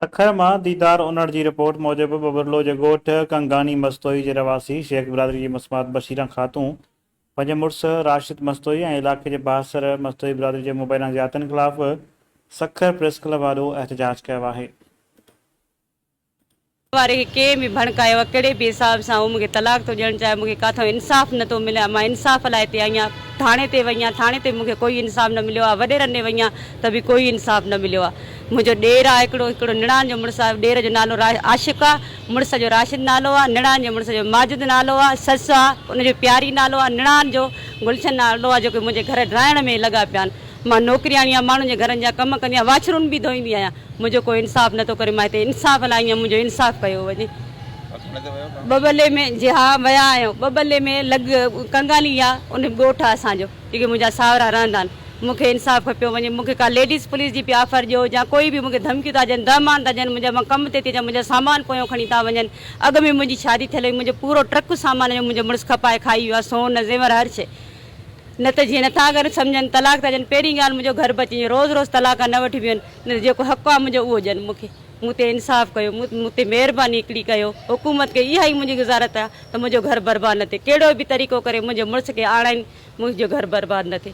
سکر مان ديدار انڙ جي رپورٽ موجب ٻٻرلو جي ڳوٺ ڪنگاني مستوئي جي رهواسي شيخ برادري جي مسمات بشيره خاتون پنهنجي مڙس راشد مستوئي ۽ علاقي جي بااثر مستوئي برادري جي مبينا زيادتين خلاف سکر پريس ڪلب آڏو احتجاج ڪيو آهي. واري کي ڪنهن به ڀڻڪايو آ ڪهڙي به حساب سان هو مون کي طلاق ٿو ڏيڻ چاهي مون کي ڪاٿو انصاف نه ٿو ملي آ مان انصاف لاء هتي آئي آ ٿاڻي تي وئي آ ٿاڻي تي مون کي ڪوئي انصاف نه مليو آ وڏيرن ڏي وئي آ ته به ڪوئي انصاف نه مليو آ منهنجو ڏير آ هڪڙو هڪڙو نڻان جو مڙس آ ڏير جو نالو را عاشق آ مڙس جو راشد نالو آ نڻان جي مڙس جو ماجد نالو آ سس آ ان جو پياري نالو آ نڻان جو گلشن نالو آ جيڪي منهنجي گهر ڊاهڻ ۾ لڳا پيا آن مان نوڪرياڻي آهيان، ماڻهن جي گهرن جا ڪم ڪندي آهيان، واڇرون به ڌوئيندي آهيان، منهنجو ڪو انصاف نه ٿو ڪري، مان هتي انصاف لاء آئي آهيان، منهنجو انصاف ڪيو وڃي. ٻٻلي ۾، جي ها ويا آهيون، ٻٻلي ۾ لڳ ڪنگالي آهي، ان ۾ ڳوٺ آهي اسان جو، جيڪي منهنجا ساهرا رهندا آهن، مون کي انصاف کپيو وڃي، مون کي ڪا ليڊيز پوليس جي پي آفر ڏيو يا ڪوئي به مون کي ڌمڪيون ٿا ڏين، دهمان ٿا ڏين، منهنجا مان ڪم تي ٿي اچان، منهنجا سامان پويان کڻي ٿا وڃن، اڳ ۾ منهنجي شادي ٿيل هئي، منهنجو پورو ٽرڪ سامان هيو، منهنجو مڙس کپائي کائي ويو آهي، سون زيور هر شيء. نه ته جيئن نٿا گهر سمجهن، طلاق ٿا ڏين، پهرين ڳالهه منهنجو گهر بچي، روز روز طلاق نه وٺي بيهن، نه ته جيڪو حق آ منهنجو اهو ڏين مون کي، مون تي انصاف ڪيو، مون تي مهرباني هڪڙي ڪيو، حڪومت کي اها ئي منهنجي گذارت آ ته منهنجو گهر برباد نه ٿئي، ڪهڙو به طريقو ڪري منهنجي مڙس کي آڻائين منهنجو گهر برباد نه ٿئي.